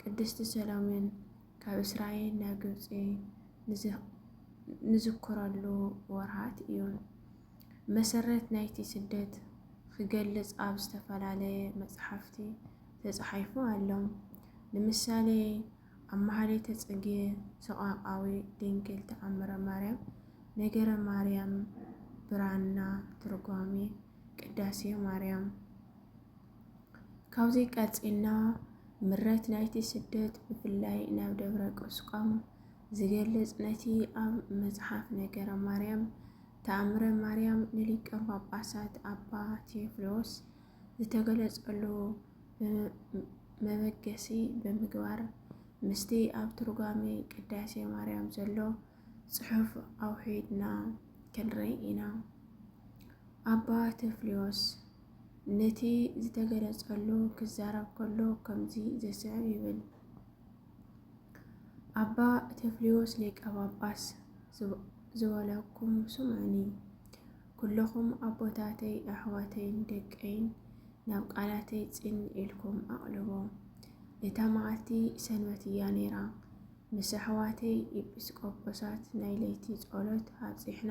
ቅድስቲ ሰሎሜን ካብ እስራኤል ናብ ግብፂ ንዝክረሉ ወርሃት እዩ። መሰረት ናይቲ ስደት ክገልፅ ኣብ ዝተፈላለየ መፅሓፍቲ ተፃሒፉ ኣሎ። ንምሳሌ ኣብ ማህሌተ ፅጌ ሰቋቃዊ ድንግል ተኣምረ ማርያም ነገረ ማርያም ብራና ትርጓሜ ቅዳሴ ማርያም ካብዚ ቀጺልና ምረት ናይቲ ስደት ብፍላይ ናብ ደብረ ቁስቋም ዝገልጽ ነቲ ኣብ መጽሓፍ ነገረ ማርያም ተኣምረ ማርያም ንሊቀ ጳጳሳት ኣባ ቴዎፍሎስ ዝተገለጸሉ መበገሲ ብምግባር ምስቲ ኣብ ትርጓሜ ቅዳሴ ማርያም ዘሎ ጽሑፍ ኣውሒድና ክንርኢ ኢና። ኣባ ቴዎፍሎስ ነቲ ዝተገለጸሉ ክዛረብ ከሎ ከምዚ ዘስዕብ ይብል። ኣባ ተፍሊዎስ ሊቀ ጳጳስ ዝበለኩም ስምዑኒ፣ ኩለኹም ኣቦታተይ ኣሕዋተይን ደቀይን ናብ ቃላተይ ጽን ኢልኩም ኣቕልቦ። እታ መዓልቲ ሰንበት እያ ነይራ። ምስ ኣሕዋተይ ኢጲስቆጶሳት ናይ ለይቲ ጸሎት ኣብጺሕና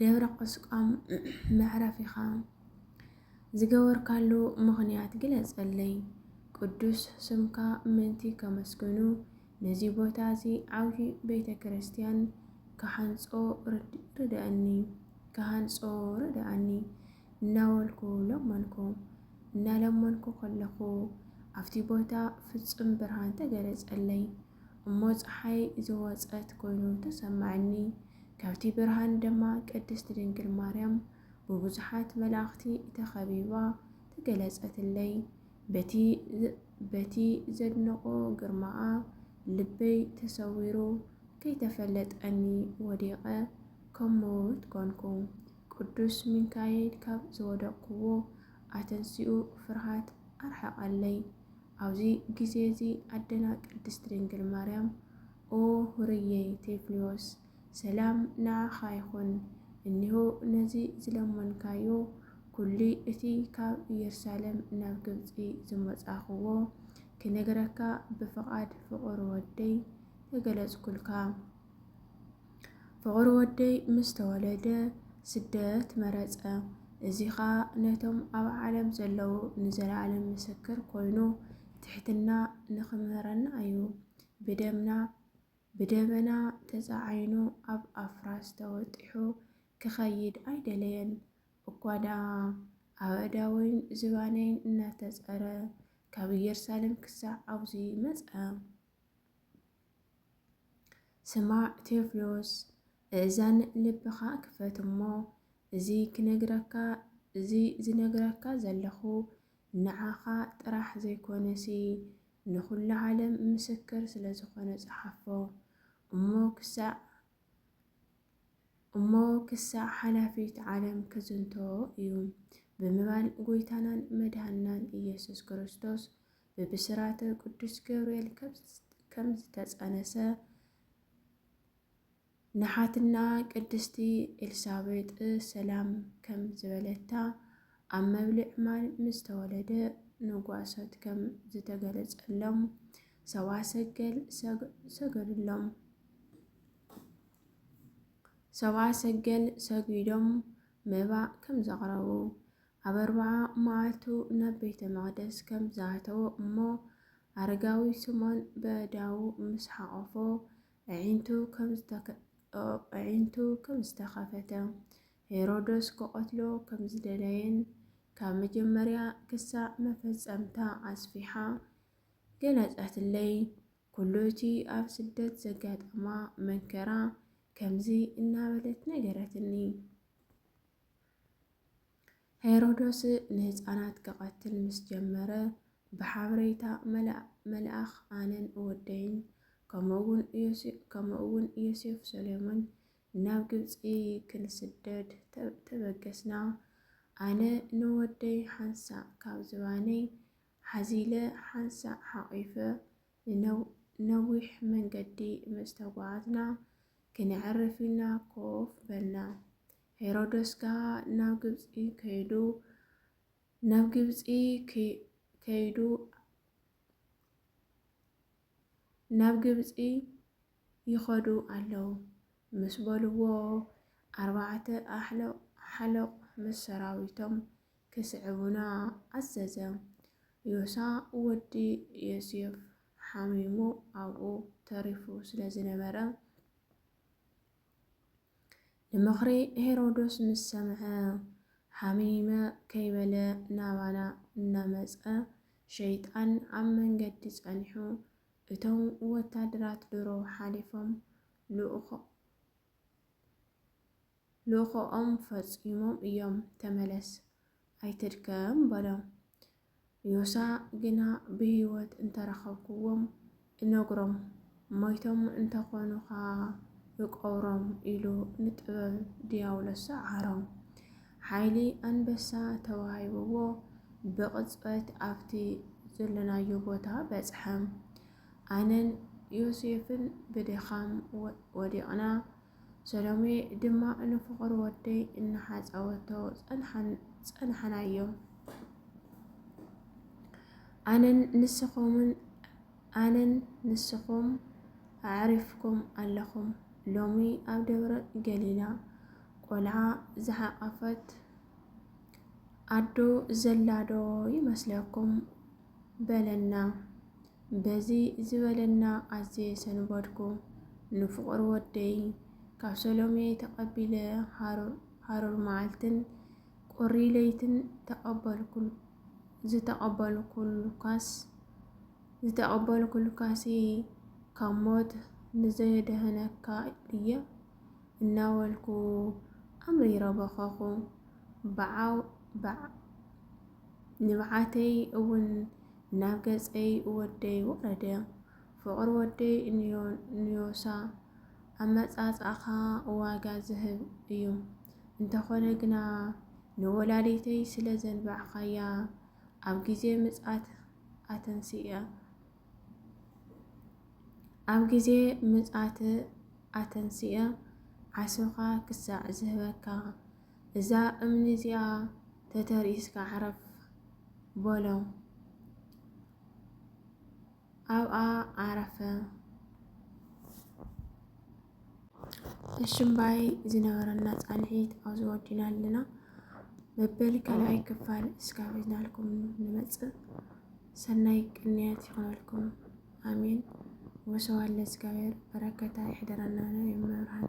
ደብረ ቁስቋም መዕረፊኻ ዝገበርካሉ ምኽንያት ግለጸለይ። ቅዱስ ስምካ ምእንቲ ከመስግኑ ነዚ ቦታ እዚ ዓብዪ ቤተ ክርስቲያን ክሃንጾ ርድእኒ ክሃንጾ ርድኣኒ እናበልኩ ለመንኩ። እናለመንኩ ከለኹ ኣብቲ ቦታ ፍጹም ብርሃን ተገለጸለይ። እሞ ፀሓይ ዝወፀት ኮይኑ ተሰማዕኒ። ካብቲ ብርሃን ደማ ቅድስት ድንግል ማርያም ብብዙሓት መላእኽቲ ተኸቢባ ተገለጸትለይ። በቲ በቲ ዘድንቆ ግርማኣ ልበይ ተሰዊሩ ከይተፈለጠኒ ወዲቐ ከም ምዉት ኮንኩ። ቅዱስ ሚካኤል ካብ ዝወደቅኩዎ ኣተንሲኡ ፍርሃት ኣርሓቐለይ። ኣብዚ ግዜዚ ኣደና ቅድስት ድንግል ማርያም ኦ ሁርየይ ቴፍሊዎስ ሰላም ንኣኻ ይኹን እኒሆ ነዚ ዝለመንካዮ ኩሉ እቲ ካብ እየሩሳለም ናብ ግብጺ ዝመጻኹዎ ክነግረካ ብፍቓድ ፍቑር ወደይ ተገለጽኩልካ ፍቑር ወደይ ምስ ተወለደ ስደት መረጸ እዚ ኸኣ ነቶም ኣብ ዓለም ዘለዉ ንዘለኣለም ምስክር ኮይኑ ትሕትና ንኽምህረና እዩ ብደምና ብደመና ተጻዓይኑ ኣብ ኣፍራስ ተወጢሑ ክኸይድ ኣይደለየን። እኳ ደኣ ኣእዳወይን ዝባነይን እናተጸረ ካብ ኢየሩሳሌም ክሳዕ ኣብዚ መጸ። ስማዕ ቴዎፍሎስ፣ እእዛን ልብኻ ክፈት እሞ እዚ ክነግረካ እዚ ዝነግረካ ዘለኹ ንዓኻ ጥራሕ ዘይኮነሲ ንኹሉ ዓለም ምስክር ስለ ዝኾነ ጸሓፎ እሞ ክሳዕ እሞ ክሳዕ ሓላፊት ዓለም ክዝንቶ እዩ ብምባል ጎይታናን መድሃንናን ኢየሱስ ክርስቶስ ብብስራተ ቅዱስ ገብርኤል ከም ዝተጸነሰ ንሓትና ቅድስቲ ኤልሳቤጥ ሰላም ከም ዝበለታ ኣብ መብልዕ ማል ምስ ተወለደ ንጓሶት ከም ዝተገለጸሎም ሰብኣ ሰገል ሰገዱሎም። ሰብኣ ሰገል ሰጊዶም መባእ ከም ዘቕረቡ ኣብ ኣርባዓ መዓልቱ ናብ ቤተ መቕደስ ከም ዝኣተወ እሞ ኣረጋዊ ስሞን በዳዉ ምስ ሓቖፎ ኣዒንቱ ኸም ዝተኸፈተ፣ ሄሮዶስ ክቐትሎ ከም ዝደለየን ካብ መጀመርያ ክሳዕ መፈጸምታ ኣስፊሓ ገለጸትለይ። ኩሉ እቲ ኣብ ስደት ዘጋጠማ መንከራ ከምዚ እናበለት ነገረትኒ። ሄሮዶስ ንህጻናት ክቐትል ምስ ጀመረ፣ ብሓበሬታ መልኣኽ ኣነን ወደይን ከምኡውን ዮሴፍ ሰሎሞን ናብ ግብጺ ክንስደድ ተበገስና። ኣነ ንወደይ ሓንሳእ ካብ ዝባነይ ሓዚለ ሓንሳእ ሓቚፈ ነዊሕ መንገዲ ምስ ተጓዓዝና፣ ክነዕርፍ ኢልና ኮፍ በልና። ሄሮደስ ከኣ ናብ ግብጺ ከይዱ ናብ ግብጺ ከይዱ ናብ ግብጺ ይኸዱ ኣለዉ ምስ በልዎ ኣርባዕተ ኣሕለቕ ምስ ሰራዊቶም ክስዕቡና ኣዘዘ። ዮሳ ወዲ ዮሴፍ ሓሚሙ ኣብኡ ተሪፉ ስለ ዝነበረ ንምኽሪ ሄሮዶስ ምስ ሰምዐ፣ ሓሚመ ከይበለ ናባና እናመጸ፣ ሸይጣን ኣብ መንገዲ ጸኒሑ፣ እቶም ወታደራት ድሮ ሓሊፎም ልኡኾኦም ፈጺሞም እዮም፣ ተመለስ፣ ኣይትድከም በሎ። ዮሳ ግና ብህይወት እንተ ረኸብኩዎም እነግሮም፣ ሞይቶም እንተ ዀኑ ኸኣ እቐብሮም ኢሉ ንጥበብ ድያብሎስ ሰዓሮ። ሓይሊ ኣንበሳ ተዋሂብዎ ብቕጽበት ኣብቲ ዘሎናዮ ቦታ በጽሐ። ኣነን ዮሴፍን ብድኻም ወዲቕና። ሰሎሜ ድማ ንፍቕር ወደይ እናሓጸወቶ ጸንሓናዮ። ኣነን ንስኹምን ኣነን ንስኹም ኣዕሪፍኩም ኣለኹም። ሎሚ ኣብ ደብረ ገሊላ ቆልዓ ዝሓቐፈት ኣዶ ዘላዶ ይመስለኩም በለና። በዚ ዝበለና ኣዝየ ሰንበድኩ። ንፍቑር ወደይ ካብ ሰሎሜ ተቐቢለ ሃሩር መዓልትን ቁሪ ለይትን ተቐበልኩሉ። ዝተቐበልኩልካስ ዝተቐበልኩልካሲ ካብ ሞት ንዘየድህነካ ድየ? እናበልኩ ኣምሪረ በኸኹ። ብዓው ብዓው ንብዓተይ እውን ናብ ገጸይ ወደይ ወረደ። ፍቕሪ ወደይ ንዮሳ ኣመጻጽኣኻ ዋጋ ዝህብ እዩ። እንተኾነ ግና ንወላዲተይ ስለ ዘንባዕካያ ኣብ ግዜ ምጽኣት ኣተንስእያ ኣብ ግዜ ምጽኣት ኣተንስእያ ዓስብኻ ክሳዕ ዝህበካ እዛ እምኒ እዚኣ ተተርኢስካ ዕረፍ በሎ። ኣብኣ ዓረፈ። እሽምባይ ዝነበረና ፃንሒት ኣብዚ ወዲና ኣለና። መበል ካልኣይ ክፋል እስካብ ሒዝናልኩም ንመፅእ። ሰናይ ቅንያት ይኾነልኩም። ኣሜን። ወሰዋለ እግዚኣብሔር በረከታ ይሕደረና ነው የመብርሃን